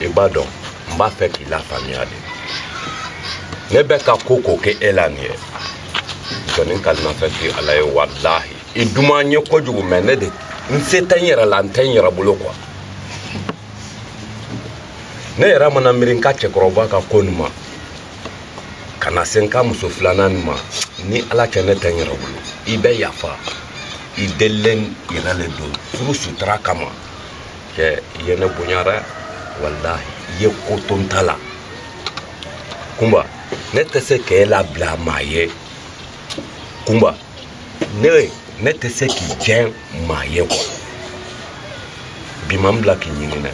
i b'a dɔn n b'a fɛ k'i lafaamuya de ne bɛ ka ko ko kɛ e la nin ye jɔni kalimafɛn ti ala ye walahi i duman n ye kojugu mɛ ne de n se tɛ n yɛrɛ la n tɛ n yɛrɛ bolo kuwa ne yɛrɛ mana miiri n ka cɛkɔrɔba ka ko nin ma ka na se n ka muso filanan nin ma ni ala cɛ ne tɛ n yɛrɛ bolo i bɛ yafa i delilen yɛrɛ le don furu sutura kama cɛ i ye ne bonya dɛ walahi i ye ko to n ta la kunba ne tɛ se k'e labila maa ye kunba ne ne tɛ se k'i jɛn maa ye kuwa bi ma n bila k'i ɲini dɛ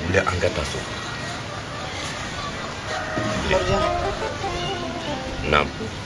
wuli an ka taa so naam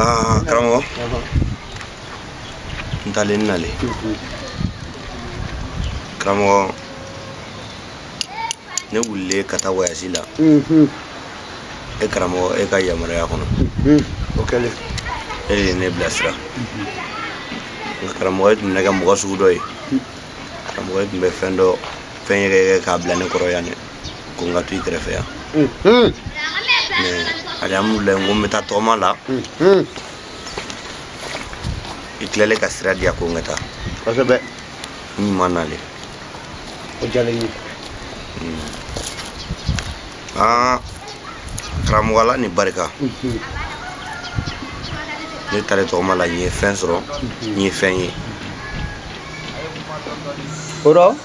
Ah, karamɔgɔ n taalen n nalen karamɔgɔ ne wulilen ka taa wayasi la e karamɔgɔ e ka yamaruya kɔnɔ o kɛlen e de ye ne bilasira nka karamɔgɔ e tun mana kɛ mɔgɔ sugu dɔ ye karamɔgɔ e tun bɛ fɛn dɔ fɛn yɛrɛ k'a bila ne kɔrɔ yan dɛ ko n ka to i kɛrɛfɛ yan alihamudulilayi n ko n bɛ taa tɔgɔma la i tilalen ka sira diya ko n ka taa kosɛbɛ n ɲuman nalen o diyalen n ye aa karamɔgɔ ala ni barika ne taalen tɔgɔma la n ye fɛn sɔrɔ n ye fɛn ye o rɔ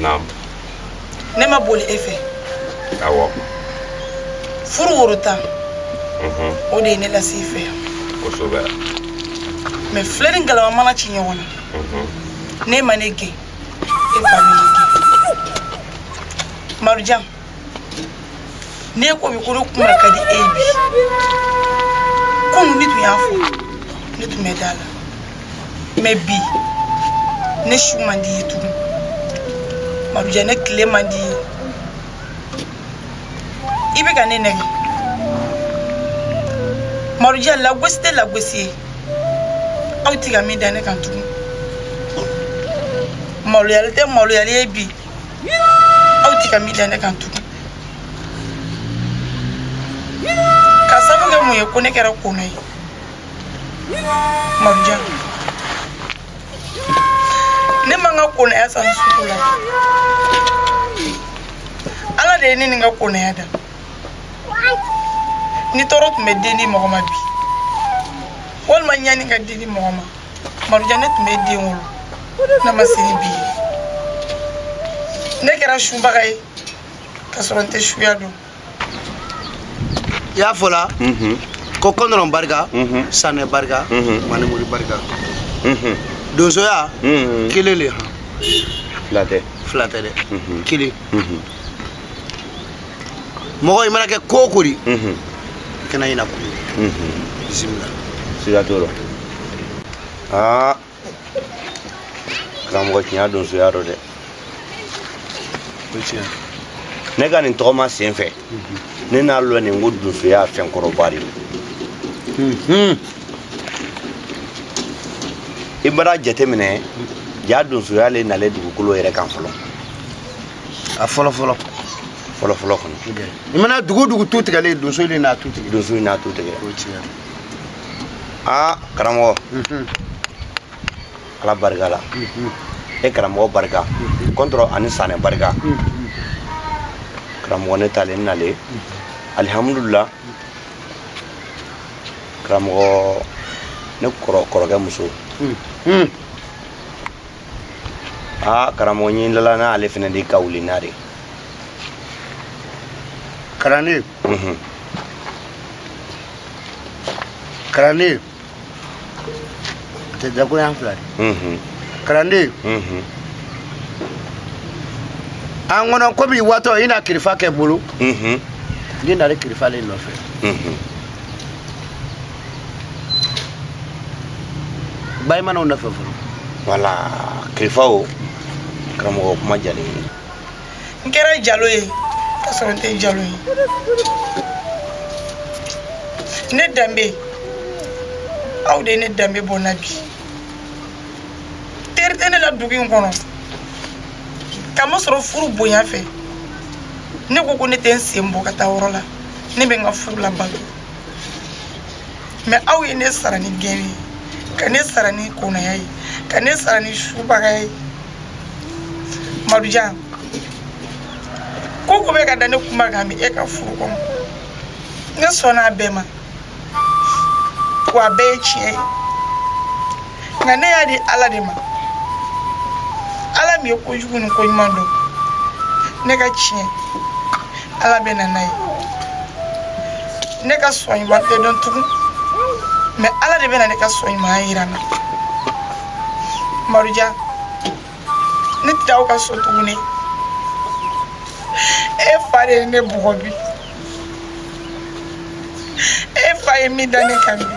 naamu. ne ma boli e fɛ. awɔ. furu woro tan. o de ye ne lase i fɛ. kosɛbɛ. mɛ filen ni galama mana ci ɲɔgɔn na. ne ma ne gɛn e fa ne gɛn. marujan. ne ko bi ko ne kuma ka di e bi kunu n'i tun y'a fɔ ne tun bɛ da a la mɛ bi ne su man di i ye tugun marujan ne tile man di i ye i bɛ ka ne nɛgɛn marujan lagosi tɛ lagosi ye aw tɛ ka min da ne kan tugun maloyali tɛ maloyali ye bi aw ti ka min da ne kan tugun ka sabu kɛ mun ye ko ne kɛra kona ye marujan ne ma n ka konaya san sugu la ala de ye ne ni n ka konaya da ni tɔɔrɔ tun bɛ den di mɔgɔ ma bi walima ɲani ka den di mɔgɔ ma madujan ne tun bɛ den wolo n'a ma se ni bi ye ne kɛra subaga ye ka sɔrɔ n tɛ suya dɔn i y'a fɔ la mhm. ko kɔndɔrɔn barika mhm. sanɛ barika mhm. manimori barika donsoya kelen le han fila tɛ dɛ kelen mɔgɔ i mana kɛ ko o ko di mhm. i kana ɲina ko mhm. bisimila siga t'o la aa karamɔgɔ tiɲɛ donsoya dɔ dɛ ne ka nin tɔgɔma sen fɛ mhm. ne n'a lɔnnin ko donsoya fɛn kɔrɔba de i bara jateminɛ ja donsoya le nalen dugukolo yɛrɛ kan fɔlɔ a fɔlɔ fɔlɔ fɔlɔ fɔlɔ kɔnɔ i mana dugu dugu tu tigɛlen donso donso in n'a tu tigɛ aa karamɔgɔ ala barika la e karamɔgɔ barika kɔntɔrɔ ani sanɛ barika karamɔgɔ ne talen nalen alihamudulila karamɔgɔ ne kɔrɔkɛ muso aa karamɔgɔ ɲin dala n'ale fɛnɛ de ka wuli n'a de kalanden mhm. kalanden a tɛ dagoyan fila de mhm. kalanden mhm. an kɔnɔ komi waatɔ i na kirifa kɛ bolo n'i nana kirifa le nɔfɛ bayi manaw nɔfɛ fɔlɔ wala kirifaw karamɔgɔ kuma jalen ye n kɛra jalo ye ka sɔrɔ n tɛ jalo ye ne danbe aw de ye ne danbe bɔ n na bi teri tɛ ne la dugu in kɔnɔ k'a masɔrɔ furu bonya fɛ ne ko ko ne tɛ n sen bɔ ka taa yɔrɔ la ne bɛ n ka furu labato mɛ aw ye ne sara ni gɛn ye ka ne sara ni konaya ye ka ne sara ni subaga ye madujan ko o ko bɛ ka da ne kuma kan bi e ka furu kɔnɔ ne sɔnna a bɛɛ ma ko a bɛɛ ye tiɲɛ ye nka ne y'a di ala de ma ala min ye kojugu ni koɲuman dɔn ne ka tiɲɛ ala bɛ na n'a ye ne ka sɔn ɲuman tɛ dɔn tugun mɛ ala de bɛ na ne ka sɔn ɲumanya yira n na madujan ne tɛ taa aw ka so tuguni e fa de ye ne bugɔ bi e fa ye min da ne kan bi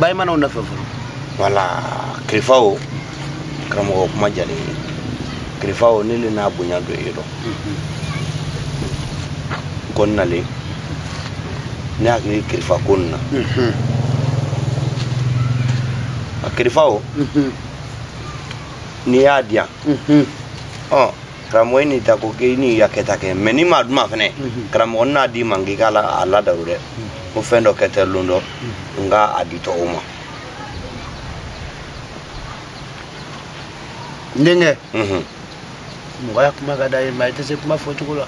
bayi manaw nɔfɛ fɔlɔ wala kirifa o karamɔgɔ kuma jalen ye kirifa o ne le n'a bonya dɔ ye dɔn n kɔni nalen ne hakili kirifa ko nin na a kirifa o n'i y'a di yan ɔ karamɔgɔ n'i ta ko k'i n'i ka kɛta kɛ mais n'i m'a duma fɛnɛ karamɔgɔ n'a d'i ma k'i k'a la a ladaru dɛ ko fɛn dɔ kɛ tɛ lon dɔ n ka a di tɔgɔ ma n denkɛ mɔgɔ ya kuma ka d'a ye mais i tɛ se kuma fɔcogo la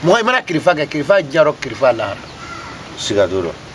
mɔgɔ i mana kirifa kɛ kirifa jarɔ kirifa lahara siga t'o dɔ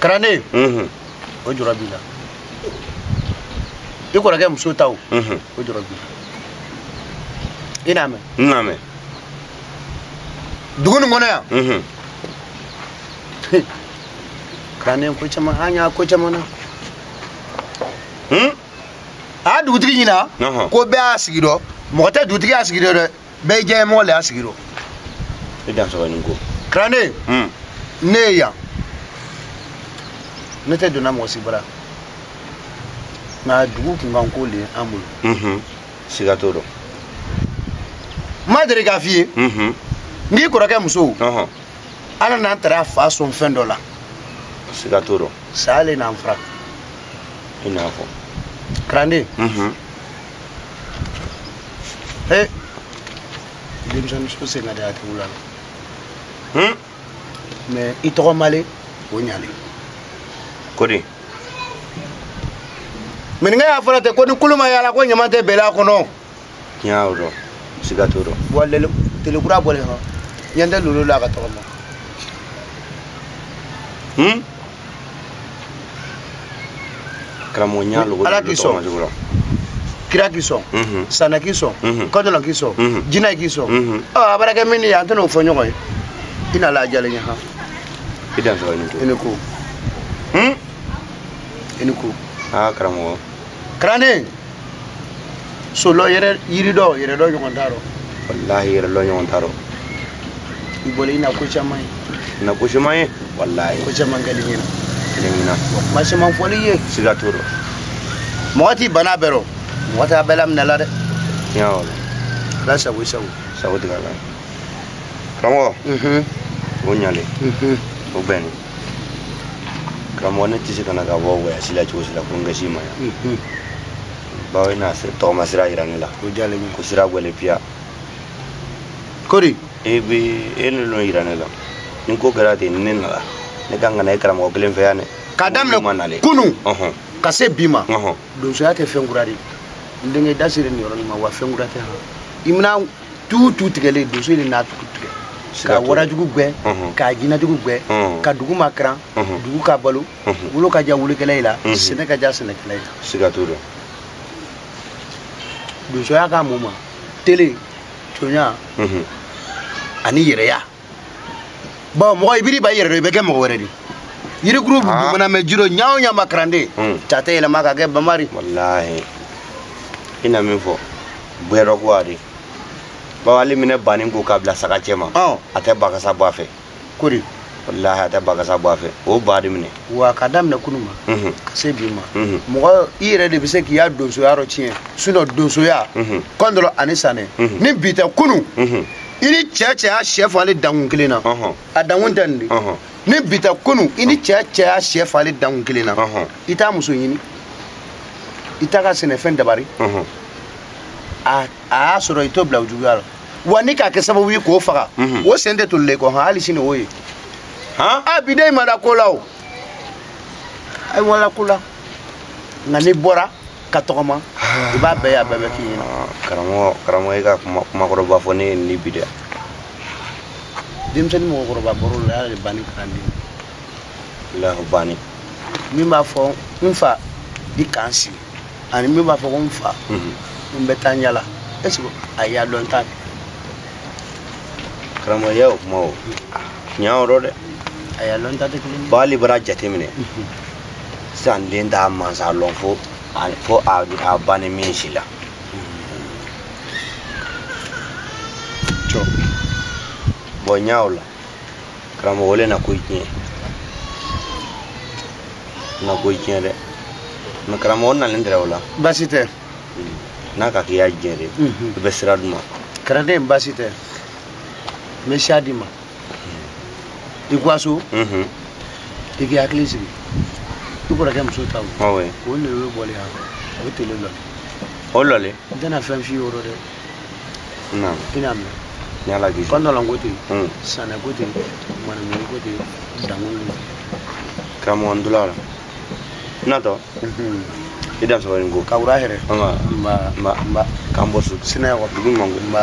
kalanden mhm. o jɔrɔ b'i la i kɔrɔkɛ muso ta o mhm. o jɔrɔ b'i la i n'a mɛn n n'a mɛn dugu nin kɔnɔ yan mhm. kalanden ko caman an y'a ko caman na hmm? a y'a dugutigi ɲina ko bɛɛ y'a sigi dɔ mɔgɔ tɛ dugutigi y'a sigi dɔ dɛ bɛɛ ye diɲɛ mɔgɔ le y'a sigi rɔ i dansɔgɔ i ni ko karanden hmm. ne ye yan ne tɛ donna mɔgɔ si bara nka dugu kunkan ko le an bolo mhm. siga t'o dɔ n ma deli k'a f'i ye mhm. n k'i kɔrɔkɛ muso ala n'an taara a fa sɔn fɛn dɔ la siga t'o dɔ saya le n'an fara i n'a fɔ karanden mhm. Hey. denmisɛnnin so sen ka di a tigiw la mais i tɔgɔ ma le o ɲalen ko di mininkɛ y'a fɔra ten ko ni kulu ma yala ko ɲama tɛ bɛlɛ a kɔnɔ tiɲɛ y'o dɔ siga t'o dɔ wa tele kura bɔlen hɔ ɲɛ tɛ lolo la a ka tɔgɔ ma karamɔgɔ ɲa logo ala k'i sɔn kira k'i sɔn mhm. saanɛ k'i sɔn mhm. kɔndɔlɔn k'i sɔn mhm. jinɛ k'i sɔn ɔ a baara kɛ min ye an tɛna o fɔ ɲɔgɔn ye i na la a jalen ye han i dansɔgɔ i ni ko i ni ko i ni ko aa karamɔgɔ karanden so lɔ yɛrɛ yiri dɔ yɛrɛ dɔ ɲɔgɔn t'a rɔ walahi yɛrɛ dɔ ɲɔgɔn t'a rɔ i bɔra i na ko caman ye na ko caman ye walahi ko caman kɛli ɲɛna kɛli ɲɛna kuma caman fɔli ye siga t'o rɔ mɔgɔ t'i bana bɛɛ rɔ mɔgɔ t'a bɛɛ laminɛ la dɛ tiɲɛ wala ala sago i sago sago tigɛ la karamɔgɔ o ɲalen o bɛnni karamɔgɔ ne tɛ se ka na ka bɔ wɔyasi la cogo si la fo n ka se i ma yan bawo i na tɔgɔma sira yira ne la ko sira gwɛlɛ piya kori e ne nɔ yira ne la ni ko kɛra ten ni ne nana ne kan ka na e karamɔgɔ kelen fɛ yan dɛ k'a daminɛ kunu ka se bi ma donsoya tɛ fɛn kura di n denkɛ da sera nin yɔrɔ nin ma wa fɛn kura tɛ han i mina tu tu tigɛlen donso de n'a tugu tigɛ ka warajugu gwɛ ka jinajugu gwɛ ka dugu makaran dugu ka balo wula ka diya wulakɛlayi la sɛnɛ ka diya sɛnɛkɛlayi la siga t'o la donsoya ka mun ma tele conya ani yɛrɛya bon mɔgɔ i biri i ban i yɛrɛ dɔ i bɛ kɛ mɔgɔ wɛrɛ di yirikuru mana mɛn ji rɔ ɲa o ɲa ma karanden hmm. a tɛ yɛlɛma ka kɛ bama ri walahi i na min fɔ bɛrɛ ko a di bawo ali i mana banin ko k'a bila saga cɛma oh. a tɛ bakasa bɔ a fɛ kori walahi a tɛ bakasa bɔ a fɛ o ba de minɛ wa ka daminɛ kunu ma mhm. ka se bi ma mhm. mɔgɔ i yɛrɛ de bɛ se k'i ya donsoya dɔtiɲɛ sinon donsoya mhm. kɔndɔlɔn ani sanɛ ni bi tɛ kunu i ni cɛ cɛ y'a sɛ falen dankun kelen na a dankun tɛ nin de ni bi tɛ kunu i ni cɛ cɛ y'a sɛ falen dankun kelen na i t'a muso ɲini i t'a ka sɛnɛfɛn dabari a y'a sɔrɔ i t'o bila o juguya la wa ni k'a kɛ sababu ye k'o faga o sen tɛ tolilen kɔ hali sini o ye a bi den ma da ko la o ayi wala ko la nka n'i bɔra ka tɔgɔma i b'a bɛɛ ye a bɛɛ bɛ k'i ɲɛna karamɔgɔ karamɔgɔ i ka kuma kumakɔrɔba fɔ ne ye nin bi dɛ denmisɛnnin mɔgɔkɔrɔba baro la y'a de banni kalanden lahu banni min b'a fɔ n fa i k'an sigi ani min b'a fɔ ko n fa n bɛ taa yaala est ce que a ya dɔnta kɛ karamɔgɔ y'o kuma o tiɲɛ yɔrɔ dɛ a ya dɔnta tɛ kelen ye b'ale bara jateminɛ sisan den t'a mansa lɔn fo fo a a ba ni min si la bon ɲa la karamɔgɔ le na ko tiɲɛ na ko tiɲɛ dɛ mais karamɔgɔ nalen tɛrɛ o la baasi tɛ n'a ka k'i ya diyanye di i bɛ sira di n ma karanden baasi tɛ n bɛ sira d'i ma i ka wa so i k'i hakili sigi i kɔrɔkɛ muso ta o o de bɛ bɔli yan a bɛ tele lɔle o lɔle n tɛna fɛn f'i ye o rɔ dɛ i n'a mɛn ala k'i kɔndɔlɔn ko ten hmm. sanɛ ko ten manamini ko ten dankun ko ten karamɔgɔ ntula la natɔ i da sɔrɔ nin ko ka wura hɛrɛ nba nba k'an bɔ su sinaya wa dugu ɲuman ko nba